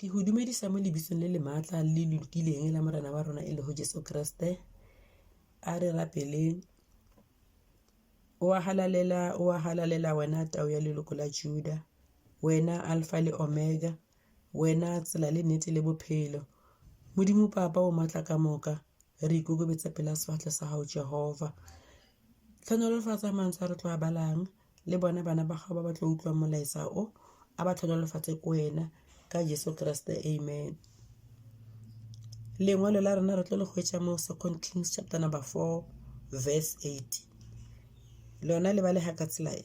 ke go dumedisa mo lebitsong le le maatla le le lokileng la morena wa rona e le go jesu kriste a re rapeleng o a halalela o a halalela wena tao ya leloko la juda wena alfa le omega Wena tsela le nnete le bophelo. Modimo Papa o matla ka moka, re ikokobetsa pela sefatlhe sa gago Jehova. Tlhonolofatsa mantswe a re tlo a balang le bone bana ba gago ba ba tlo utlwang molaetsa o a ba tlhonolofatse ko wena ka Jesu Kriste amen. Lengwalo la rona re tlo le go etsa mo Second Kings chapter number 4 verse 8 lona le ba le ga ka tsela e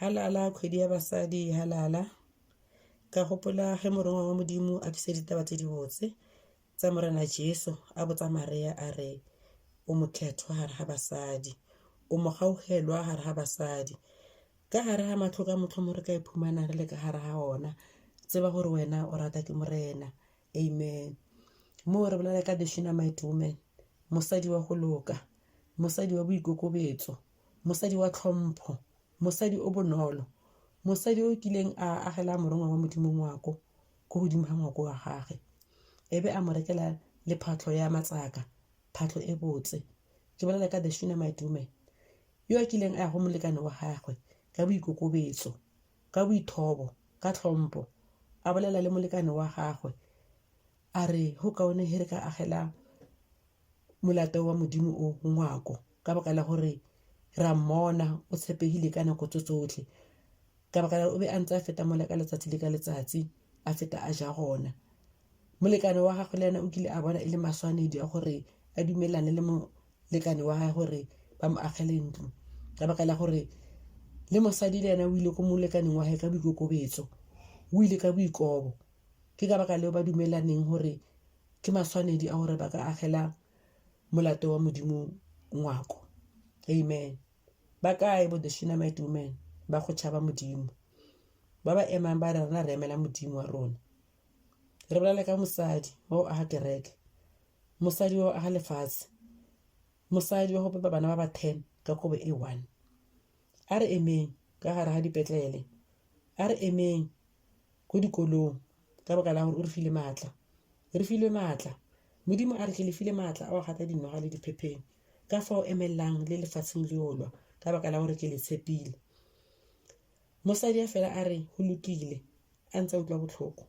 Halala, kgwedi ya basadi e halala. Ka gopola ge Morongwa wa Modimo a tlisa ditaba tse dibotse tsa Morena Jesu, a botsa Marea a re, O motlhethwa gare ga basadi, o mogaugelwa gare ga basadi. Ka gare ga matlho ka motlho mo re ka iphumanang re le ka gare ga ona, tseba gore wena o rata ke Morena. Amen. Moo re bolela ka the Shunammite woman, mosadi wa go loka, mosadi wa boikokobetso, mosadi wa tlhompho mosadi o bonolo mosadi o kileng a agela morongwa wa modimo ngwako ko godimo ga ngwako wa gage e be a mo rekela le phatlho ya matsaka phatlho e botse ke bolela ka the shunamite woman yo a kileng a ya go molekane wa gagwe ka boikokobetso ka boithobo ka tlhompo a bolela le molekane wa gagwe a re go kaone he re ka agela molato wa modimo o ngwako ka baka la gore ra mmona o tshepegile ka nako tso tsotlhe ka baka la o be a ntse a feta mola ka letsatsi le ka letsatsi a feta a ja gona molekane wa gagwe le ena o kile a bona e le maswanedi a gore a dumelane le molekane wa gagwe gore ba mo agele ntlo ka baka la gore le mosadi le ena o ile ko molekaneng wa gage ka boikokobetso o ile ka boikobo Ke ka baka leo ba dumelaneng gore ke maswanedi a gore ba ka agela molato wa Modimo ngwako. Amen. Ba kae bo the Shunammite women ba go tšhaba Modimo? Ba ba emang ba re rena re emela Modimo wa rona. Re bolale ka mosadi wa go aga kereke, mosadi wa go aga lefatshe, mosadi wa go pepa bana ba ba ten ka kobo e one. A re emeng ka gare ga dipetlele, a re emeng ko dikolong ka baka la gore o re file maatla re filwe maatla modimo a re ke le file maatla a wa gata dinoga le diphepheng ka fa o emelelang le lefatsheng le olwa ka baka la gore ke le tshepile mosadi a fela a re go lokile a ntse a utlwa botlhoko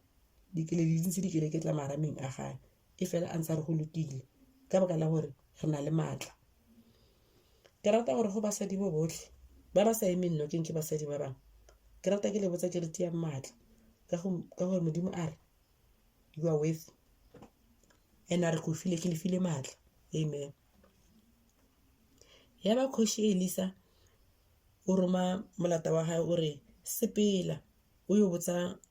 dikele di ntse dikele ke tla marameng a gae e fela a ntse a re go lokile ka baka la gore re na le maatla ke rata gore go basadi bo botlhe ba ba sa emeng nokeng ke basadi ba bangwe ke rata ke le botsa ke re tiyang maatla ka gore modimo a re you are with and a re go file ke le file maatla amen ya ba kgoši elisa o roma molata wa gae o re sepela o yo botsa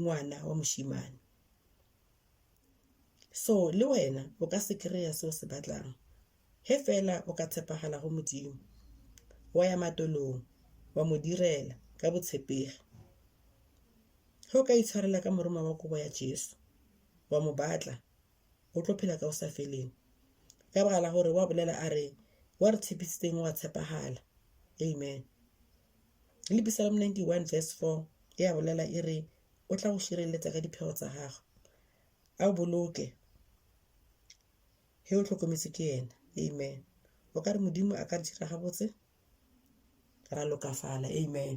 ngwana wa moshimane so le wena o ka se kry-a se o se batlang he fela o ka tshepagala go modimo wa ya matolong wa mo direla ka botshepegi ge o ka itshwarela ka moroma wa kobo ya jesu wa mo batla o tlo phela ka o sa feleng ka baka la gore wa bolela a re wa re tshepisitseng wa tshepagala amen Le Psalm 91 verse 4 e a bolela e re o tla go šireletsa ka diphego tsa gago a o boloke he o tlhokometse ke ena amen o ka re modimo a ka re dira gabotse ra lokafala amen